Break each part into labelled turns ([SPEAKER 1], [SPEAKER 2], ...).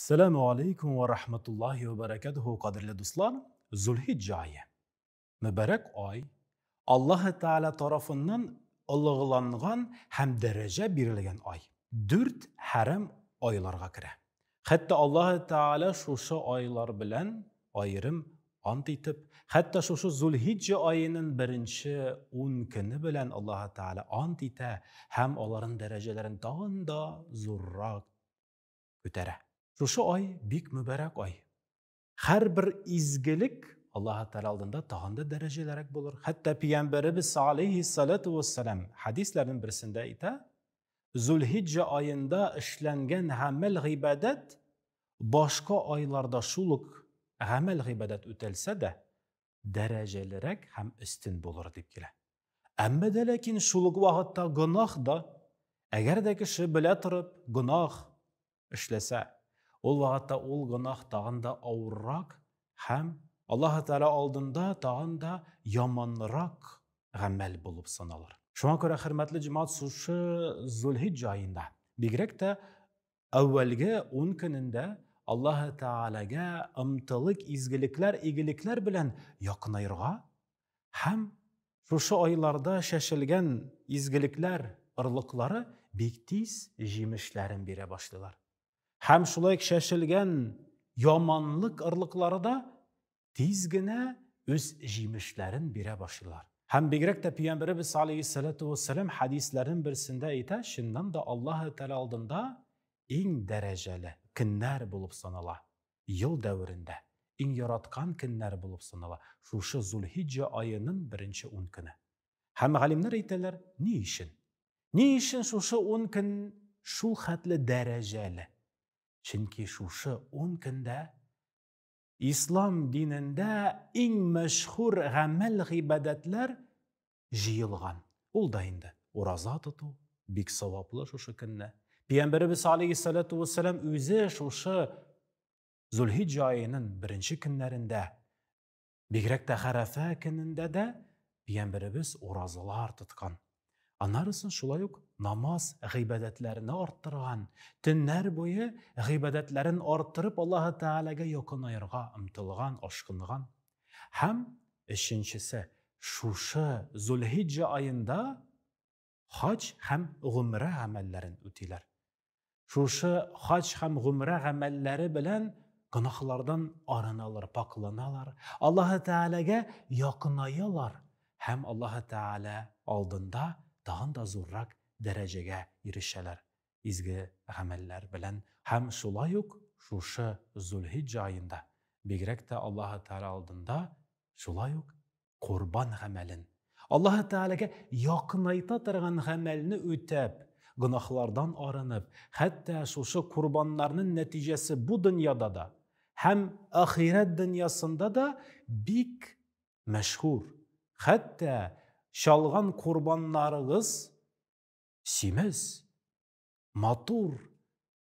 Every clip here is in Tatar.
[SPEAKER 1] Сәләму алейкум ва рахматуллахи ва баракатуху, кадерле дуслар. Зулхиджа айы. Мөбарәк ай. Аллаһы Тәгалә тарафыннан олыгыланган һәм дәрәҗә бирелгән ай. Дүрт хәрам айларга керә. Хәтта Аллаһы Тәгалә шушы айлар белән аерым ант итеп, хәтта шушы Зулхиджа аенын беренче ун көне белән Аллаһы Тәгалә ант итә һәм аларын дәрәҗәләрен тагын да зуррак күтәрә. Шушы ай бик мөбарәк ай. Һәрбер изгелек Аллаһы Тәгалә алдында тагын да дәрәҗәлерәк булыр. Хәтта пигамбәребез салейһи салату вассалам хадисләрнең берсендә әйтә, Зулхиҗҗа аенда эшләнгән гамәл гыйбадәт башка айларда шул ук гамәл гыйбадәт үтәлсә дә, дәрәҗәлерәк һәм өстен булыр дип килә. Әмма дә ләкин шул ук вакытта гөнаһ да, әгәр дә кеше белә торып гөнаһ эшләсә, ул вакытта ул гөнаһ тагын да авыррак һәм Аллаһ Тәгалә алдында тагын да яманрак гамәл булып саналыр. Шуңа күрә хөрмәтле җәмәгать сушы Зулхиҗ җаенда, бигрәк тә Әүвәлге ун көнендә Аллаһы Тәгаләгә ымтылык, изгелекләр, игелекләр белән якынаерга һәм шушы айларда чәчелгән изгелекләр орлыклары бик тиз җимешләрен бирә башлыйлар. Һәм шулай ук чәчелгән яманлык орлыклары да тиз генә үз җимешләрен бирә башлыйлар. Һәм бигрәк тә пәйгамбәребез алейһиссалату вассалам хәдисләрен берсендә әйтә, чыннан да Аллаһ Тәгалә алдында иң дәрәҗәле көннәр булып санала. Ел дәверендә иң яраткан көннәр булып санала шушы Зулхиҗҗа аеның беренче ун көне. Һәм галимнәр әйтәләр, ни өчен? Ни өчен шушы ун көн шул хәтле дәрәҗәле? Чөнки шушы ун көндә Ислам динендә иң мәшһүр гамәл гыйбадәтләр җыелган. Ул да инде ураза тоту, бик саваплы шушы көнне. Пәйгамбәребез алейхиссалату вассалам үзе шушы Зулхиҗҗа аеның беренче көннәрендә, бигрәк тә Хәрәфә көнендә дә пәйгамбәребез уразалар тоткан. Аннарысын шулай ук намаз гыйбадәтләрне арттырган, төннәр буе гыйбадәтләрен арттырып Аллаһы Тәгаләгә якынаерга омтылган, ашкынган. Һәм өченчесе, шушы Зулхиҗҗа аенда хаҗ һәм гомрә гамәлләрен үтиләр. шушы хаҗ һәм гомрә гамәлләре белән гөнаһлардан арыналар, пакъланалар, Аллаһы Тәгаләгә якынаялар һәм Аллаһы Тәгалә алдында тагын да зуррак дәрәҗәгә ирешәләр изге гамәлләр белән. Һәм шулай ук шушы Зулхиҗҗа аенда, бигрәк тә Аллаһы Тәгалә алдында шулай ук Корбан гамәлен. Аллаһы Тәгаләгә якынайта торган гамәлне үтәп, гөнаһлардан арынып, хәтта шушы корбаннарның нәтиҗәсе бу дөньяда да һәм ахирәт дөньясында да бик мәшһүр. Хәтта чалган корбаннарыгыз симез, матур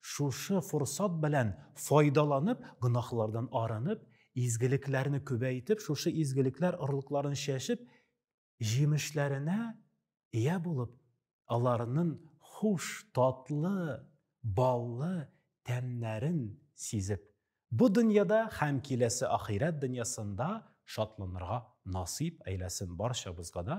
[SPEAKER 1] Шушы форсат белән файдаланып, гөнаһлардан арынып, изгелекләрне күбәйтеп, шушы изгелекләр орлыкларын чәчеп, җимешләренә ия булып, аларның хуш, татлы, баллы тәмнәрен сизеп, бу дөньяда һәм киләсе ахирәт дөньясында шатланырга насыйп әйләсен барчабызга да,